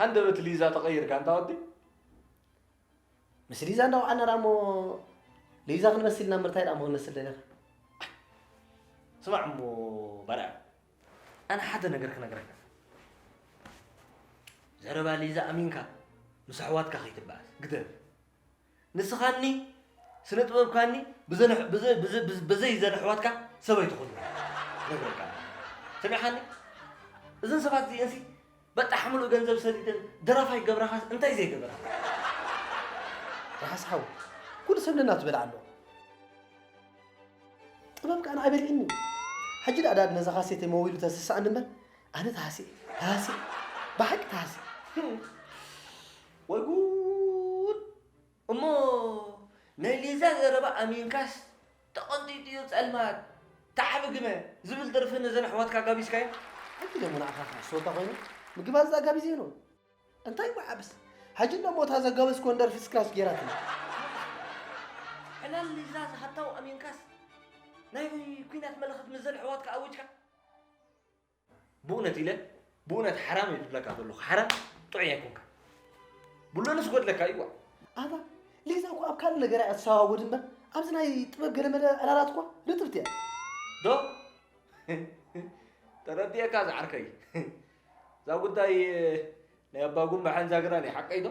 ሃንደበት ሊዛ ተቐይርካ ኣንታ ወዲ ምስ ሊዛ እንዳወዓና ደኣ እሞ ሊዛ ክንመስል ኢና ምርታይ ደኣ እሞ ክንመስል ደለኻ ስማዕ እሞ ባርያ ኣነ ሓደ ነገር ክነግረካ ዘረባ ሊዛ ኣሚንካ ምስ ኣሕዋትካ ከይትበኣስ ግደፍ ንስኻኒ ስነጥበብካኒ ብዘይ ዘን ኣሕዋትካ ሰብ ኣይትኹን ነግረካ ሰሚዕኻኒ እዘን ሰባት እዚኤንሲ በጣሕ ምሉእ ገንዘብ ሰዲደን ደራፋይ ገብረኻስ እንታይ ዘይገበራ ርሓስ ሓው ኩሉ ሰብ ነናቱ ዝበልዓ ኣሎ ጥበብ ከዓ ንዓይ በሊዕኒ ሕጂ ደኣ ዳድ ነዛ ካሴተይ መዊሉ ተስስኣኒ እምበር ኣነ ተሃስየ ተሃስየ ብሓቂ ተሃስየ ወይ ጉድ! እሞ ናይ ሊዛ ዘረባ ኣሚንካስ ተቐንጢጡ'ዩ ጸልማት ታሕሚ ግመ ዝብል ደርፊ ነዘን ኣሕዋትካ ጋቢዝካየን? ኣንታ ደሞ ንዓኻ ከ ሶታ ኮይኑ ምግብ ኣዚ ኣጋቢዘይኑ እንታይ ወዓብስ ሕጂ እንደሞ እታ ዘጋበዝኮን ደርፊ እስካስ ጌራትኒ ዕላል ሊዛ ዝሃታው ኣሚንካስ ናይ ኩናት መልእኽት ምስዘን ኣሕዋትካ ኣዊጅካ ብኡነት ኢለ ብኡነት ሓራም እዩ ዝብለካ ዘለኹ ሓራም ጥዑይ ኣይኮንካ ብሎንስ ጎድለካ እዩ ዋ ኣታ ሊዛ እኮ ኣብ ካልእ ነገር እያ እትሰዋወድ እምበር ኣብዚ ናይ ጥበብ ገለመለ ዕላላት እኳ ርጥብቲ እያ ዶ ተረዲኤካ ዝዓርከይ እዛ ጉዳይ ናይ ኣባ ጉንባሕን ዛግራን እዩ ሓቀይ ዶ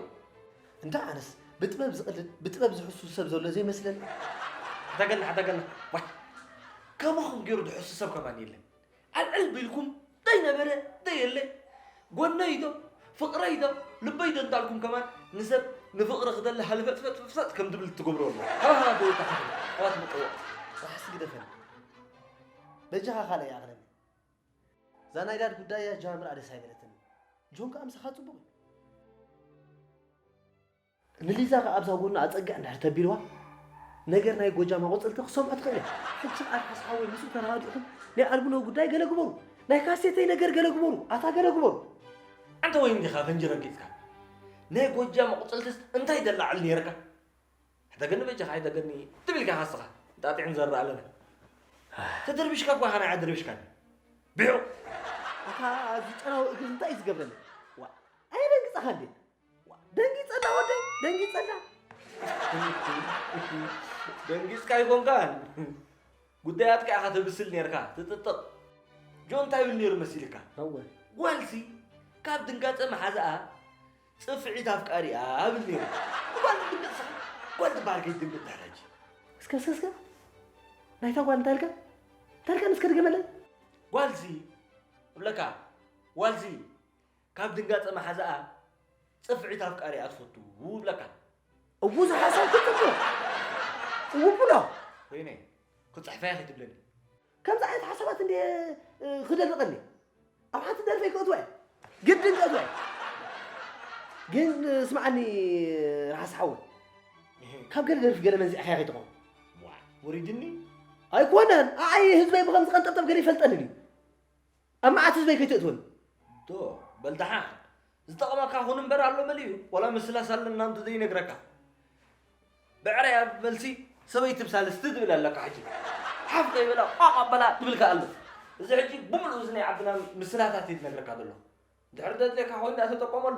እንዳ ኣነስ ብጥበብ ዝቕልድ ብጥበብ ዝሕሱ ሰብ ዘሎ ዘይመስለኒ ሓተገና ሓተገና ዋ ከማኹም ገይሩ ድሕሱ ሰብ ከማን የለን ኣልዕል ቢልኩም ዘይነበረ ዘየለ ጎነይ ዶ ፍቅረይ ዶ ልበይ ዶ እንዳልኩም ከማን ንሰብ ንፍቅሪ ክደሊ ሃልፈጥፈጥፈጥ ከም ድብል ትገብሮ ኣሎ ሃሃ ጎይታ ሓፍረ ኣባት ምጥዋቅ ራሕሲ ግደፈኒ በጃኻ ካልእ ይኣኽለኒ እዛ ናይ ዳድ ጉዳይ እያ ጃምር ኣደስ ኣይበለትኒ ጆን ከዓ ምሳኻ ፅቡቅ እዩ ንሊዛ ከኣ ኣብዛ ጎና ኣጸግዕ እንድሕር ተቢልዋ ነገር ናይ ጎጃም ኣቆጽልቲ ክሰምዖ ትኽእል እያ። ሕጂ ኣርሓስ ሓወይ ምስኡ ተረዳዲእኹም ናይ ኣልቡነዊ ጉዳይ ገለ ግበሩ፣ ናይ ካሴተይ ነገር ገለ ግበሩ፣ ኣታ ገለ ግበሩ። ኣንተ ወይን ዲኻ ፈንጂ ረጊጽካ ናይ ጎጃም ኣቁጽልትስ እንታይ ደላዕል ነይርካ ሕተገኒ በጃኻ ሕተገኒ ትብል ኢልካ ካስኻ ጣጢዕ ንዘርእ ኣለና ተደርቢሽካ እኳ ኻና ኣደርቢሽካኒ ብዑ ኣታ ዝጨናዊ እግሪ እንታይ እዩ ዝገብረኒ ዋ ኣይረግጽኻ እንዴ ደንጊፀላ ወደይ ደንጊፀላ ደንጊፅካ ኣይኮንካን ጉዳያትካ ኢኻ ተብስል ነርካ ትጥጥቕ ጆ እንታይ ይብል ነይሩ መሲልካ ጓልሲ ካብ ድንጋፀ መሓዝኣ ፅፍዒት ኣፍቃሪያ ብል ነይሩ ጓል ትድንግፅ ስኻ ጓል ትበሃል ከይትድንግፅ ዳሕራጂ እስከ እስከ እስከ ናይታ ጓል እንታይ ኢልካ እንታይ ኢልካ እስከ ድገመለይ ጓልሲ እብለካ ጓልሲ ካብ ድንጋጸ መሓዛኣ ጽፍዒት ኣፍቃሪኣ ትፈቱ እብለካ። እዉ ዝሓሰብኩ ጽቡቕ እዉ ብሎ ወይነይ ክጽሕፋያ ከይትብለኒ ከምዚ ዓይነት ሓሳባት እንደ ክደርቀኒ ኣብ ሓንቲ ደርፈይ ክእትወ ግድን ክእትወ ግን ስምዓኒ ርሓስ ሓወ ካብ ገለ ደርፊ ገለ መንዚዕ ሓያ ከይትኾን ወሪድኒ ኣይኮነን ኣይ ህዝበይ ብከምዚ ቀንጠብጠብ ገለ ይፈልጠኒ እዩ ኣብ መዓት ህዝበይ ከይትእትወኒ። ዶ በል ደሓን ዝጠቕመካ ኹን እምበር ኣሎ መሊኡ ዋላ ምስላስ ኣለና እንተዘይነግረካ ብዕራይ ኣብ መልሲ ሰበይቲ ብሳልስቲ ትብል ኣለካ ሕጂ ሓፍ ከይበላ ቋቕ ኣበላ ትብልካ ኣሎ እዚ ሕጂ ብምሉእ እዚ ናይ ዓድና ምስላታት እዩ ዝነግረካ ዘሎ ድሕሪ ደድልየካ ኮይኑ ዳኣ ተጠቀመሉ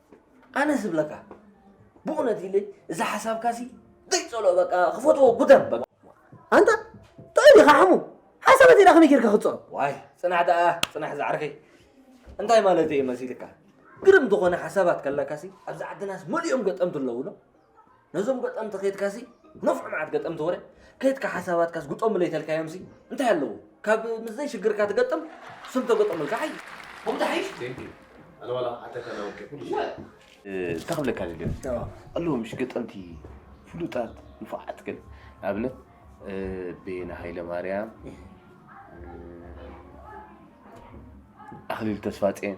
ኣነ ዝብለካ ብእውነት ኢለ እዚ ሓሳብካ ሲ ዘይፀልኦ በቃ ክፈትዎ ጉደም በቃ ኣንታ ጥዑይ ዲኻ ሓሙ ሓሳብ እንተ ከመይ ጌርካ ክፀልኦ ዋይ ፅናሕ ደኣ ፅናሕ ዝዓርከይ እንታይ ማለት እዩ መሲልካ ግርም ዝኾነ ሓሳባት ከለካሲ ኣብዚ ዓድናስ መሊኦም ገጠምቲ ኣለውሎ ነዞም ገጠምቲ ከይትካሲ ነፍዑ መዓት ገጠምቲ ወረ ከይትካ ሓሳባትካ ዝግጠሙለይ ተልካዮምሲ እንታይ ኣለዎ ካብ ምስዘይ ሽግርካ ትገጥም ስም ተገጠሙልካ ሓይ ከምኡ ተሓይሽ እንታይ ክብለካ ደልዮ ኣለዎ ምሽ ገጠምቲ ፍሉጣት ንፉዓት ግን ንኣብነት ቤና ሃይለ ማርያም ኣኽሊል ተስፋ ፄን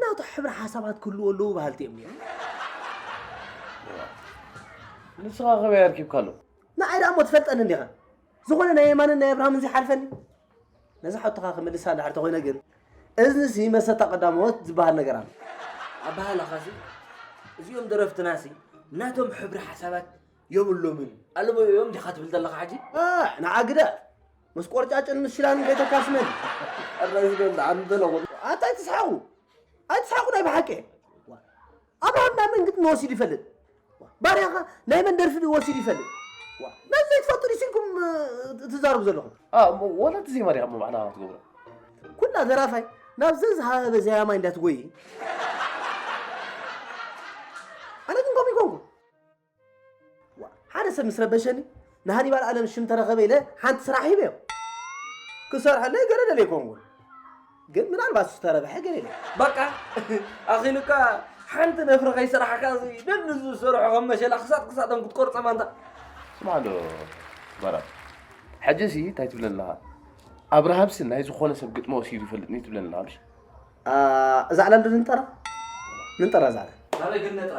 ናቱ ሕብረ ሓሳባት ክህልዎ ኣለዎ በሃልቲ እዮም ነይሮም ንስኻ ከበይ ኣርኪብካ ኣሎ ንዓይ ደኣ እሞ ትፈልጠኒ እንዲኻ ዝኾነ ናይ የማንን ናይ ኣብርሃምን ዘይሓልፈኒ ነዚ ሓቶኻ ክምልሳ ድሕር ተኾይነ ግን እዝንሲ መሰታ ቀዳሞት ዝበሃል ነገር ኣሎ ኣበሃላኻሲ እዚኦም ደረፍትናሲ ናቶም ሕብሪ ሓሳባት የብሎምን ኣለዎ እዮም ዲኻ ትብል ዘለኻ ሕጂ ንዓ ግደ ምስ ቆርጫጭን ምስ ሽላን ቤተካስ መን ኣራዚ በል ኣንበለዎ ኣንታ ኣይትስሓቑ ኣይትስሓቑ ናይ ብሓቂ ኣብርሃም ናይ መን ግጥሚ ወሲዱ ይፈልጥ ባርያኻ ናይ መን ደርፊ ወሲዱ ይፈልጥ ነዚ ዘይትፈልጡ ድዩ ሲልኩም ትዛረቡ ዘለኹም ወላ እቲ ዘይመሪኻ እሞ ባዕላ ክትገብሮ ኩላ ዘራፋይ ናብ ዘዝሃበ ዘያማይ እንዳትጎይ ኣነ ግን ከምኡ ይኮንኩ ሓደ ሰብ ምስ ረበሸኒ ንሃኒባል ኣለም ሽም ተረኸበ ኢለ ሓንቲ ስራሕ ሂበዮ ክሰርሐለይ ገለ ደልየ ኮንኩን ግን ምናልባት እሱ ተረብሐ ገለ ኢለ በቃ ኣኺሉካ ሓንቲ ነፍሪ ከይሰራሕካ እዚ ደሊ ዝሰርሖ ከም መሸላ ክሳጥ ክሳጦም ክትቆርፀ ማንታ ስማዕ ዶ በራድ ሕጂሲ እንታይ ትብለን ኣለኻ ኣብርሃምሲ ናይ ዝኾነ ሰብ ግጥሚ ወሲዱ ይፈልጥኒ ትብለን ኣለኻ እሺ እዛ ዕላል ዶ ንንጠራ ንንጠራ እዛ ዕላል ኣበይ ግን ነጥራ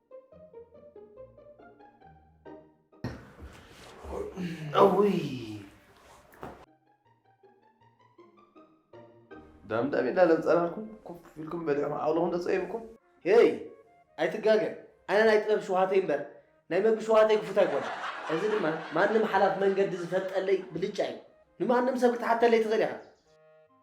ዳምዳም ኢልና ለምፀናልኩም ኮፍ ኢልኩም በሊዕኩም ዓቕልኹም ተፀይብኩም ሄይ ኣይትጋገ ኣነ ናይ ጥበብ ሸውሃተይ እምበር ናይ መግቢ ሸውሃተይ ክፉት ኣይኮነ እዚ ድማ ማንም ሓላፍ መንገዲ ዝፈልጠለይ ብልጫ እዩ ንማንም ሰብ ክትሓተለይ ትኽእል ኢኻ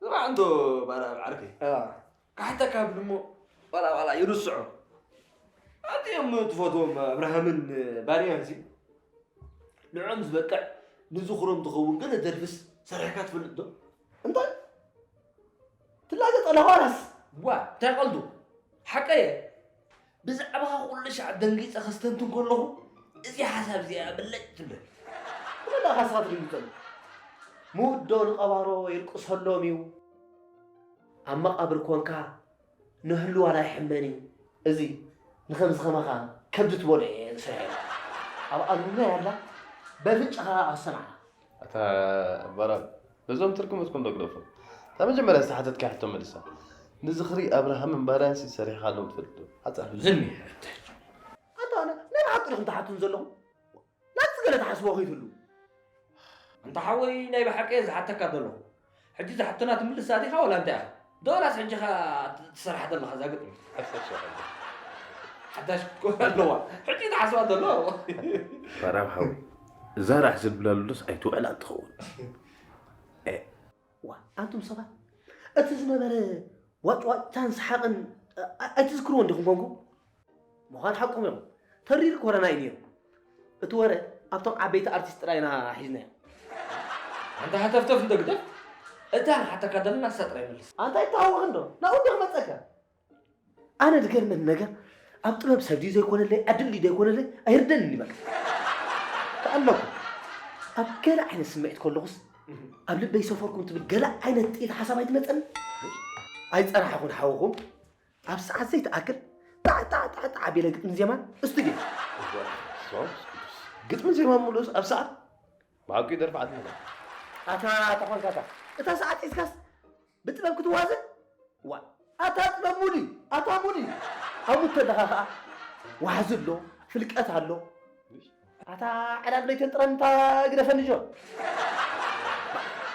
ስማዕ እንዶ ባርኣብ ዓርከይ ክሓተካ ብል እሞ ዋላ ዋላ ይርስዖ ኣትኦም ትፈትዎም ኣብርሃምን ባርያን ሲ ንዕኦም ዝበቅዕ ንዝኽሮም ትኸውን ገለ ደርፍስ ሰሪሕካ ትፈልጥ ዶ እንታይ ትላገ ጠለዋናስ ዋ እንታይ ቀልዱ ሓቀየ ብዛዕባኻ ኩሉ ሻዕ ደንጊፀ ከስተንትን ከለኹ እዚ ሓሳብ እዚ እያ ብለጭ ትብል ብኸዳ ካስኻ ትድንግፀሉ ሙት ዶ ንቐባሮ ይልቅሰሎም እዩ ኣብ መቓብር ኮንካ ንህሉ ዋላ ይሕመን እዩ እዚ ንኸምዚ ከማኻ ከብዲ ትበልዑ እየ ዝሰርሐ ኣብ ኣሉና ያላ በፍንጫኻ ኣሰማዕና ኣታ ባራን ነዞም ትርጉምትኩም ዶ ግደፉ እታ መጀመርያ ዝተሓተትካያ ሕቶ መልሳ ንዝኽሪ ኣብርሃምን ባርያንሲ ሰሪሕኻሎም ትፈልጥ ዶ ሓፃር ዝም ኣታ ኣነ ናይ ብሓቂ ዲኹም ትሓቱን ዘለኹም ናትስ ገለ ትሓስቦ ከይትህሉ እንተ ሓወይ ናይ ብሓቂ እየ ዝሓተካ ዘለኹ ሕጂ እዛ ሕቶና ትምልሳ ዲኻ ወላ እንታይ ኢኻ? ዶላስ ሕጂ ከ ትሰርሓ ዘለኻ እዛ ግጥሚ ሓዳሽ ክትኮን ኣለዋ ሕጂ ዝሓስባ ዘሎ ፈራም ሓዊ እዛ ራሕ ዝብላለሉስ ኣይትውዕላን ትኸውን ዋ ኣንቱም ሰባት እቲ ዝነበረ ዋጭዋጭታን ሰሓቕን ኣይትዝክርዎን ዲኹም ኮንኩም ምዃን ሓቆም እዮም ተሪር ኮረና እዩ ነይሩ እቲ ወረ ኣብቶም ዓበይቲ ኣርቲስት ጥራይ ኢና ሒዝናዮ ኣንታ ሃተፍተፍ እንዶ ግደፍ እታ ንሓተካ ዘለና ንሳ ጥራይ መልስ ኣንታ ይተሃወኽ እንዶ ናብኡ እንዲ ክመፀካ ኣነ ዝገርመኒ ነገር ኣብ ጥበብ ሰብ ድዩ ዘይኮነለይ ዕድል ድዩ ዘይኮነለይ ኣይርደንኒ በቃ ተኣለኹ ኣብ ገለ ዓይነት ስምዒት ከለኹስ ኣብ ልበይ ሰፈርኩም ትብል ገለ ዓይነት ጥኢት ሓሳብ ኣይትመፀኒ ኣይፀናሕኹን ሓውኹም ኣብ ሰዓት ዘይትኣክል ጣዕ ጣዕ ጣዕ ጣዕ ኣቢለ ግጥሚ ዜማን እስቱድዮ ግጥሚ ዜማ ምሉስ ኣብ ሰዓት ብሓቂ ደርፊ ዓድና ኣታ ተኾንካታ እታ ሰዓት ሒዝካስ ብጥበብ ክትዋዘ ዋ ኣታ ጥበብ ሙድ እዩ ኣታ ሙድ እዩ ኣብኡ ተለኻ ከዓ ዋሕዚ ኣሎ ፍልቀት ኣሎ ኣታ ዕላል ለይተን ጥረን እንታ ግደፈኒ ጆ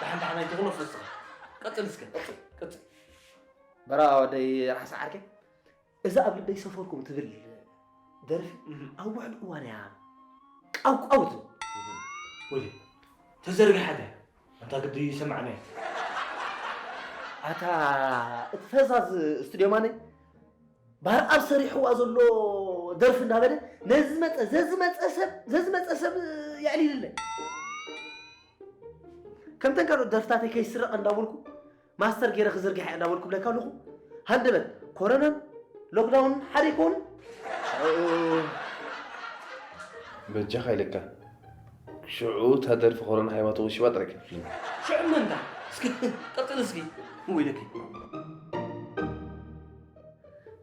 ደሓን ደሓን ኣይትኹኖ ፈስኻ ቀፅል እስከ ቀፅል በራ ወደይ ራሕሲ ዓርከይ እዛ ኣብ ልበይ ሰፈርኩም ትብል ደርፊ ኣብ ውሕድ እዋን እያ ቃውቃው ትብል ወዲ ተዘርግሓለ ኣንታ ግዲ ይሰማዕነ ኣታ እቲ ፈዛዝ ስቱድዮ ማነይ ባህር ኣብ ሰሪሕዋ ዘሎ ደርፊ እንዳበለ ነዝመፀ ዘዝመፀ ሰብ ዘዝመፀ ሰብ የዕሊልለ ከምተን ካልኦት ደርፍታተይ ከይስረቐ እንዳበልኩ ማስተር ጌረ ክዝርግሓ እየ እናበልኩ እብለካ ኣለኹ ሃንደበት ኮረናን ሎክዳውንን ሓደ ኣይኮኑን በጃኻ ኢለካ ሽዑ እታ ደርፊ ኮረና ሃይባ ተወሺባ ጥራይ ክትብለኒ ሽዑ መንታ እስኪ ቀፅል እስኪ ወይለኪ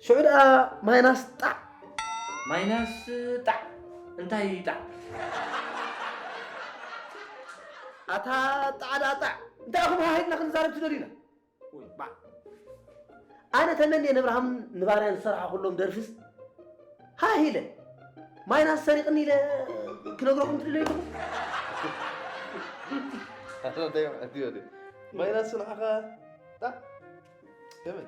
ሽዑ ደኣ ማይናስ ጣዕ ማይናስ ጣዕ እንታይ እዩ ጣዕ ኣታ ጣዕ ደኣ ጣዕ እንታይ ኢኹም ሃሃይትና ክንዛረብ ትደልዩና ወይ ባዕ ኣነ ተመንየ ንብርሃም ንባርያን ዝሰራሕኹሎም ደርፍስ ሃህ ኢለ ማይናስ ሰሪቕኒ ኢለ ክነግረኩም ትደልዩ ኣለኹም ማይናስ ንዓኻ ጣዕ ከመይ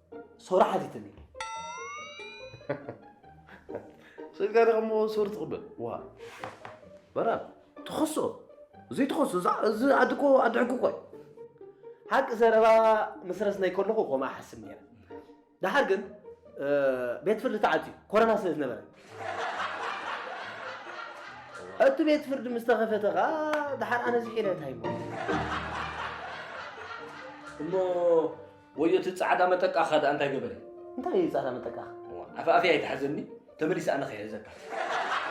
ሶራ ሓቲትኒ ስልካ ደሞ ሶር ትቕበል ዋ በራ ትኸሶ ዘይትኸሶ እዚ ዓዲ እኮ ዓዲ ሕጊ እኮ ሓቂ ዘረባ ምስ ረስናይ ከለኹ ከምኡ ሓስብ ነይረ ድሓር ግን ቤት ፍርዲ ተዓፅዩ ኮረና ስለ ዝነበረ እቲ ቤት ፍርዲ ምስ ተኸፈተ ከዓ ድሓር ኣነ ዝሒለ እንታይ እሞ ወዮ እቲ ጻዕዳ መጠቃኻ ደኣ እንታይ ገበረ? እንታይ እዩ ጻዕዳ መጠቃኻ? ኣፍ ኣፍያ ኣይትሓዘኒ ተመሊሰ ኣነ ከይሕዘካ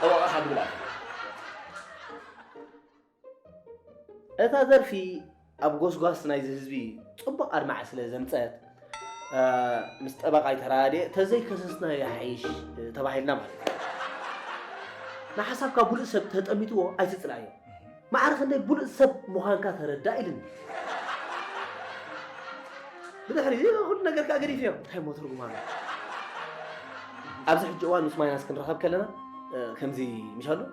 ጠበቓኻ ትብል ኣለ እታ ዘርፊ ኣብ ጎስጓስ ናይዚ ህዝቢ ጽቡቕ ኣድማዒ ስለ ዘምጸት ምስ ጠበቓይ ተራድየ ተዘይከሰስና ይሓይሽ ተባሂልና ማለት እዩ ንሓሳብካ ብሉእ ሰብ ተጠሚትዎ ኣይትጽላዮ ማዕረ ክንደይ ብሉጽ ሰብ ምዃንካ ተረዳእ ኢልኒ። ብድሕሪ እዚ ኩሉ ነገር ከኣ ገዲፈዮ እንታይ እሞ ትርጉም ኣለዎ? ኣብዚ ሕጂ እዋን ምስ ማይናስ ክንራኸብ ከለና እ፣ ከምዚ ምሻሉ እ፣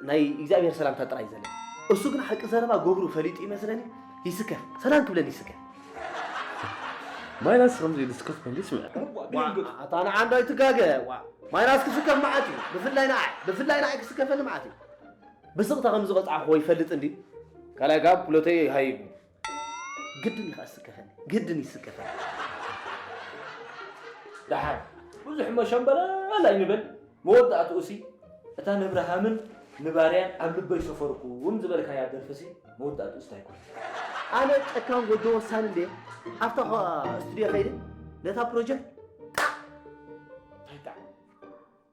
ናይ እግዚኣብሔር ሰላምታ ጥራይ እዩ ዘለና። እሱ ግን ሓቂ ዘረባ ገብሩ ፈሊጡ ይመስለኒ ይስከፍ፣ ሰላም ክብለኒ ይስከፍ። ማይናስ ከምዚ ኢሉ ስከፍ ከምዚ ይስምዐካ። ኣታ ንዓ እንዶ ኣይትጋገ ዋ ማይናስ ክስከፍ መዓት እዩ ብፍላይ ንዓይ ብፍላይ ንዓይ ክስከፈኒ መዓት እዩ ብስቕታ ከም ዝቐጻዕክዎ ይፈልጥ እንድዩ። ካልኣይ ከኣ ብሎተይ ሃይቡ። ግድን እዩ ከኣ ዝስከፈኒ፣ ግድን እዩ ዝስከፈኒ። ደሓር ብዙሕ እሞ ሸምበለል ኣይንበል፣ መወዳእትኡሲ እታ ነብርሃምን ንባርያን ኣብ ልበይ ሰፈርኩም ዝበልካያ ደርፊሲ መወዳእትኡስ እንታይ ኮን? ኣነ ጨካን ጎጆ ወሳኒ እንድየ፣ ኣብታ ስቱድዮ ከይደ ነታ ፕሮጀክት ጣዕ እንታይ ጣዕ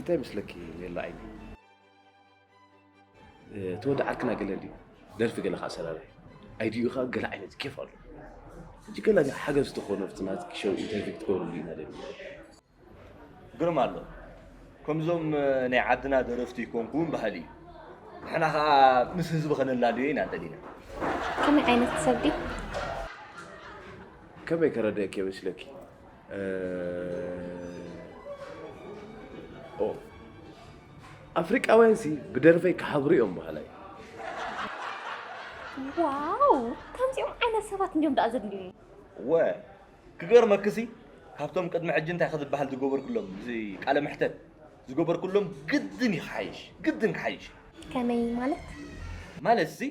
እንታይ ይመስለኪ ሜላ ዓይኒ እቲ ወዲ ዓርክና ገለ ድዩ ደርፊ ገለ ከዓ ሰራሪ ኣይድኡ ከዓ ገለ ዓይነት ኬፍ ኣሎ ሕጂ ገለ ሓገዝ ዝተኾነ ኣብቲ ናትኪ ሸው ኢንተርቪው ክትገብርሉ ኢና ደሊ ግርም ኣሎ ከምዞም ናይ ዓድና ደረፍቲ ይኮንኩ እውን ባህሊ እዩ ንሕና ከዓ ምስ ህዝቢ ከነላልዮ ኢና ደሊና ከመይ ዓይነት ሰብ ድዩ ከመይ ከረድእኪ ይመስለኪ ኣፍሪቃውያን ሲ ብደርፈይ ክሓብሩ እዮም በሃላይ ዋው ከምዚኦም ዓይነት ሰባት እንዲዮም ደኣ ዘድልዩኒ ወ ክገርመክሲ ካብቶም ቅድሚ ሕጂ እንታይ ክዝበሃል ዝገበርኩሎም እዚ ቃለ መሕተት ዝገበርኩሎም ግድን እዩ ክሓይሽ ግድን ክሓይሽ ከመይ ማለት ማለት ሲ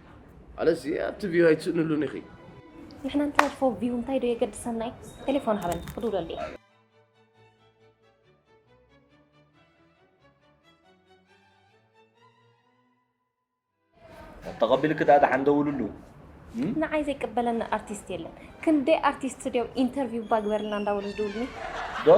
ኣለዚ ኣብቲ ቪው ኣይትስእንሉን ኢኺ ንሕና እንተርፎ ቪው እንታይ ዶ የገድሰና እዩ ቴሌፎን ሃበኒ ክድውለሉ እየ ተቐቢልኪ ደኣ ደሓን ደውልሉ ንዓይ ዘይቅበለኒ ኣርቲስት የለን ክንደይ ኣርቲስት ድዮም ኢንተርቪው እባ ግበርልና እንዳበሉ ዝድውልኒ ዶ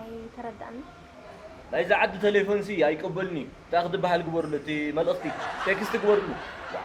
ኣይተረዳኣንን። ናይዛ ዓዲ ተሌፎን ሲ ኣይቅበልን እዩ እንታይ ክትበሃል ግበርሉ እቲ መልእኽቲ ቴክስት ግበርሉ ዋእ።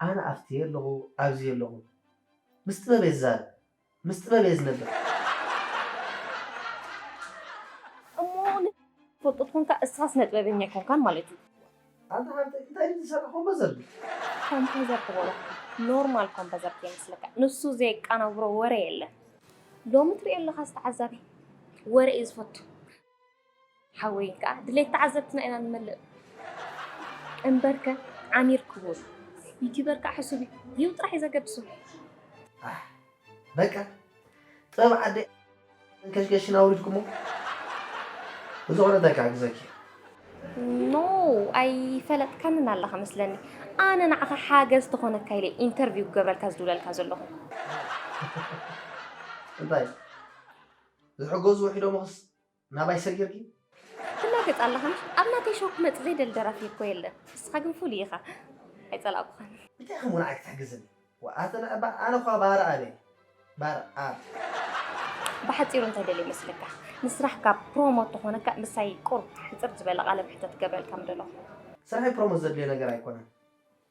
ኣነ ኣብቲ የለኹ ኣብዚ የለኹ ምስ ጥበብ እየ ዝዛረብ ምስ ጥበብ እየ ዝነብር። እሞ ንፈልጦ ትኾንካ እስኻ ስነ ጥበበኛ ኣይኮንካን ማለት እዩ። ኣታ ሃብተይ እንታይ ድዩ ዝሰርሕ ኮምበዘር ድዩ? ኮምፐዘር ትበሎ ኖርማል ኮምፐዘር ከይመስለካ ንሱ ዘየቃናብሮ ወረ የለን። ሎሚ ትሪኦ ኣለኻስ ተዓዛቢ ወረ እዩ ዝፈቱ። ሓወይ ከኣ ድሌት ተዓዘብትና ኢና ንመልእ እምበርከ ዓሚር ክቡር ዩቲበር ከኣ ሕሱብ እዩ ቪው ጥራሕ እዩ ዘገድሶ። ኣሕ በቃ ጸብ ዓደይ መንከሽከሽን ኣውሪድኩሞ ብዝኾነ እንታይ ክሕግዘኪ እየ? ኖ ኣይፈለጥካንን ኣለኻ መስለኒ ኣነ ንዓኻ ሓገዝ ተኾነካ ኢለ ኢንተርቪው ክገብረልካ ዝድውለልካ ዘለኹ እንታይ ዝሕገዙ ውሒዶም ኽስ ናባይ ሰጊርኪ ትላገጽ ኣለኻ ኣብ ናተይ ሸው ክመጽእ ዘይደሊ ደራፊ እኮ የለን ንስኻ ግን ፍሉይ ኢኻ ኣይጸላእኩኻን። እንታይ ከምኡ ንዓይ ክትሕግዝኒ ወኣተን እባ ኣነ እኳ ባር ኣብ እየ ባር ኣብ። ብሓጺሩ እንታይ ደልየ መስለካ ንስራሕካ ፕሮሞት ተኾነካ ምሳይ ቁሩብ ሕጽር ዝበለ ቃለ መሕተት ክገብረልካ ምደለኹ። ስራሐይ ፕሮሞት ዘድልዮ ነገር ኣይኮነን።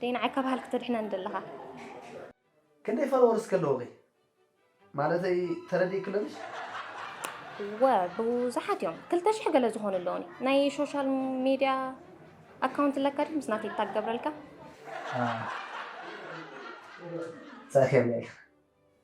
ደይ ንዓይ ካብ ሃልኪ ተድሕነኒ ደለኻ። ክንደይ ፎሎወርስ ከለዉኺ ማለተይ ተረዲእክሎ ድሽ? እወ ብዙሓት እዮም ክልተ ሽሕ ገለ ዝኾኑ ኣለዉኒ። ናይ ሾሻል ሜድያ ኣካውንት ኣለካ ድዩ ምስ ናተይ ታግ ገብረልካ? ኣህ ጸርፊ የብለይን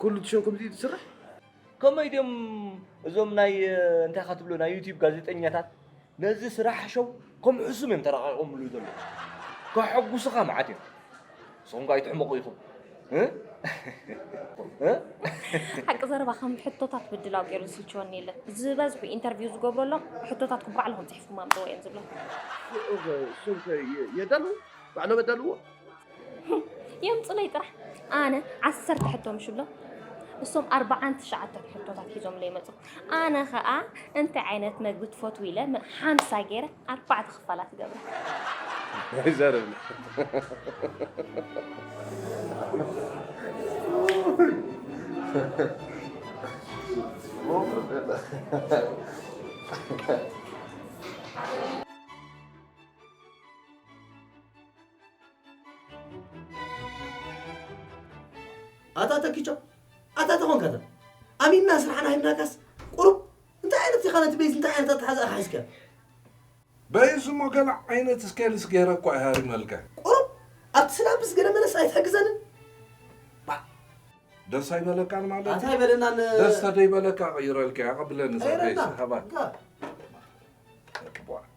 ኩሉ እቲ ሸው ከምዚ እዩ ዝስራሕ ከመይ ድዮም እዞም ናይ እንታይ ኢኻ ትብሎ ናይ ዩቲዩብ ጋዜጠኛታት ነዚ ስራሕ ሸው ከም ሕሱም እዮም ተራቂቆምሉ ዘለዉ ከሐጉሱኻ መዓት እዮም ንስኹም ከ ኣይትሕመቑ ኢኹም እ? እ? ሓቂ ዘረባ ከም ሕቶታት ምድላው ገይሩ ዝስልችወኒ የለን ዝበዝሑ ኢንተርቪው ዝገብረሎም ሕቶታትኩም ባዕልኹም ፅሒፍኩም ኣምፅዎ እዮም ዝብሎም ሸው ከ የዳልዉ ባዕሎም የዳልዎ የምፅለይ ጥራሕ ኣነ ዓሰርተ ሕቶ ምሽሎ እሶም ኣርባዓን ትሽዓተን ሕቶታት ሒዞምለይ መፁ ኣነ ከዓ እንታይ ዓይነት መግቢ ትፈትው ኢለ ም- ሓምሳ ገይረ ኣርባዕተ ክፋላት ገብረ ይዘርብ ኣታ ተኪቻ ኣታ ተኾንካ እዛ ኣሚንና ስራሕና ሂብናካስ ቁሩብ እንታይ ዓይነት ኢኻ ነቲ ቤዝ እንታይ ዓይነት ኣተሓዛ ኢኻ ሒዝካ በይዝ እሞ ገለ ዓይነት ስኬልስ ገይረ እኳ ይሃሪመልካ ቁሩብ ኣብቲ ስላብስ ገለ መለስ ኣይትሕግዘንን ደስ ኣይበለካን ማለት ኣታ ይበለናን ደስ ተደይበለካ ቀይረልካ ያቐብለኒ ሰበይስ ሃባ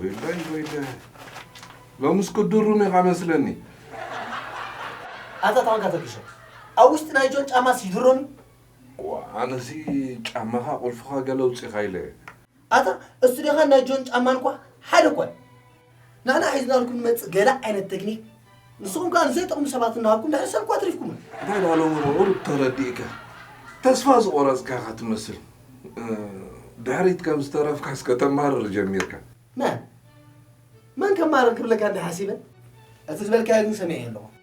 ወይለይ ወይለይ ሎምስ ክድሩም ኢኻ መስለኒ ኣታ ተዋንካ ተርጊሾ ኣብ ውሽጢ ናይ ጆን ጫማ ሲድሮን ኣነሲ ጫማኻ ቁልፍኻ ገለ ውፅኢኻ ኢለ ኣታ እሱ ዲኻ ናይ ጆን ጫማ እንኳዕ ሓደ እኳ ንሕና ሒዝናልኩም ንመፅእ ገለ ዓይነት ተክኒክ ንስኹም ከዓ ንዘይጠቕሙ ሰባት እናሃብኩም ድሕሪ ሰብ እኳ ኣትሪፍኩምና እንታይ ደኣ ሎሚ ብቑሩብ ተረዲእካ ተስፋ ዝቖረፅካ እኻ ትመስል ድሕሪት ከም ዝተረፍካስ ከተማርር ጀሚርካ። መን መን ከማርር ክብለካ እንድየ ሓሲበ እቲ ዝበልካዮ ግን ሰሚዐዮ ኣለኹ።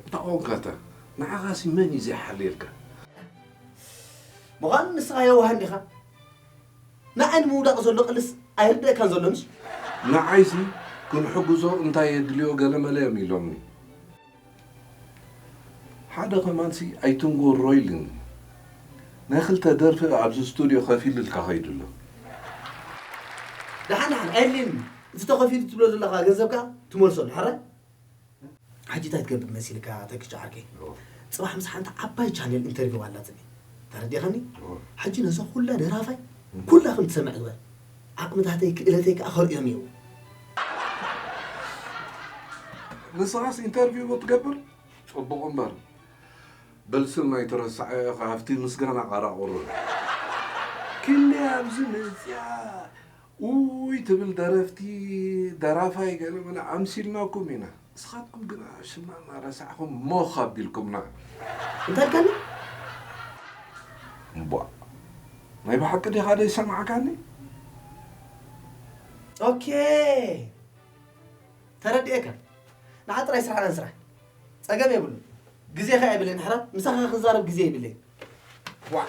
እታ ቆንካታ ንዓኻሲ መን እዩ ዘይሓልየልካ? ምዃኑ ንስኻ የዋህ እንዲኻ ንዓይ ንምውዳቕ ዘሎ ቅልስ ኣይርደኣካን ዘሎ እንጂ። ንዓይሲ ክንሕግዞ እንታይ የድልዮ ገለመለ እዮም ኢሎምኒ። ሓደ ከማንሲ ኣይትንጎሮ ኢሉኒ። ናይ ክልተ ደርፊ ኣብዚ ስቱድዮ ከፊልልካ ከይዱ ኣሎ። ደሓን ደሓን ኣየድልየንን እቲ ተኸፊሉ ትብሎ ዘለኻ ገንዘብ ከኣ ትመልሶ ኣሎ ሕራይ። ሕጂ እንታይ ትገብር መሲልካ ተክቸ ሓቀይ ጽባሕ ምስ ሓንቲ ዓባይ ቻነል ኢንተርቪው ኣላትኒ ተረዲካኒ ሕጂ ነዛ ኩላ ደራፋይ ኩላ ከም ትሰምዕ ግበር ዓቅምታተይ ክእለተይ ከኣ ከርእዮም እዩ ንስኻስ ኢንተርቪው ብትገብር ጽቡቕ እምበር በልስን ናይ ተረሳዐ ኢኻ ኣብቲ ምስጋና ቃራቑሩ ክንደይ ኣብዚ መጽያ ኡይ ትብል ደረፍቲ ደራፋይ ገለ መለ ኣምሲልናኩም ኢና ንስኻትኩም ግና ሽምና እናረሳዕኹም ሞኽ ኣቢልኩምና። እንታይ ኢልካኒ? እምቧእ ናይ ብሓቂ ዲኻ ዘይሰማዕካኒ? ኦኬይ ተረዲኤካ ንዓ ጥራይ ስራሕና ንስራሕ ጸገም የብሉን ግዜ ከኣ የብለይን ንሕና ምሳኻ ክንዛረብ ግዜ የብለይን ዋእ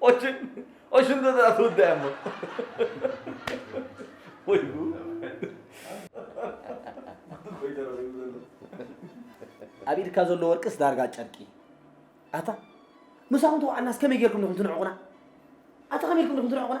Oçun, oçun da da tu demo. Oy bu. ኣብ ኢድካ ዘሎ ወርቅስ ዳርጋ ጨርቂ ኣታ ምሳኹም ተዋዕናስ ከመይ ጌርኩም ኢኹም ትንዕቑና ኣታ ከመይ ኢልኩም ኢኹም ትንዕቑና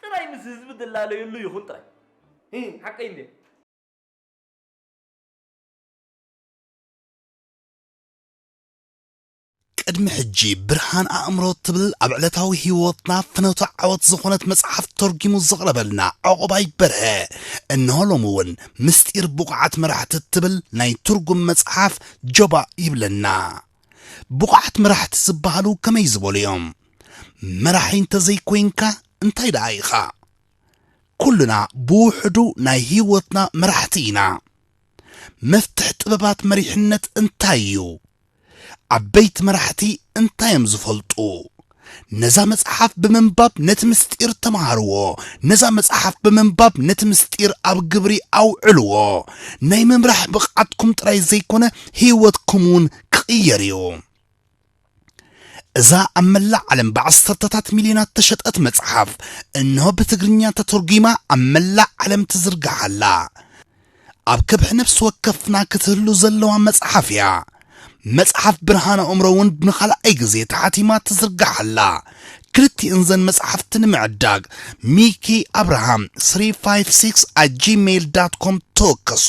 ጥራይ ምስ ህዝቢ ትላለዩሉ ይኹን ጥራይ። ሂህ ሓቀይ እንድየ። ቅድሚ ሕጂ ብርሃን ኣእምሮ ትብል ኣብ ዕለታዊ ህይወትና ፍኖተ ዓወት ዝኾነት መጽሓፍ ተርጊሙ ዘቕረበልና ዕቑባይ በርሀ እነሆ ሎሚ እውን ምስጢር ብቑዓት መራሕቲ ትብል ናይ ትርጉም መጽሓፍ ጀባ ይብለና። ብቑዓት መራሕቲ ዝበሃሉ ከመይ ዝበሉ እዮም? መራሒ እንተዘይኮይንካ እንታይ ደኣ ኢኻ ኩልና ብውሕዱ ናይ ህይወትና መራሕቲ ኢና መፍትሕ ጥበባት መሪሕነት እንታይ እዩ ዓበይቲ መራሕቲ እንታይ እዮም ዝፈልጡ ነዛ መጽሓፍ ብምንባብ ነቲ ምስጢር ተምሃርዎ ነዛ መጽሓፍ ብምንባብ ነቲ ምስጢር ኣብ ግብሪ ኣውዕልዎ ናይ ምምራሕ ብቕዓትኩም ጥራይ ዘይኮነ ህይወትኩም እውን ክቕየር እዩ እዛ ኣብ መላእ ዓለም ብዓሰርተታት ሚልዮናት ተሸጠት መጽሓፍ እንሆ ብትግርኛ ተተርጒማ ኣብ መላእ ዓለም ትዝርጋሕ ኣላ ኣብ ከብሒ ነፍሲ ወከፍና ክትህሉ ዘለዋ መጽሓፍ እያ መጽሓፍ ብርሃን ኣእምሮ እውን ንኻልኣይ ግዜ ተሓቲማ ትዝርጋሕ ኣላ ክልቲእን ዘን መጽሓፍቲ ንምዕዳግ ሚኪ ኣብርሃም 356 ኣት ጂሜይል ዳት ኮም ተወከሱ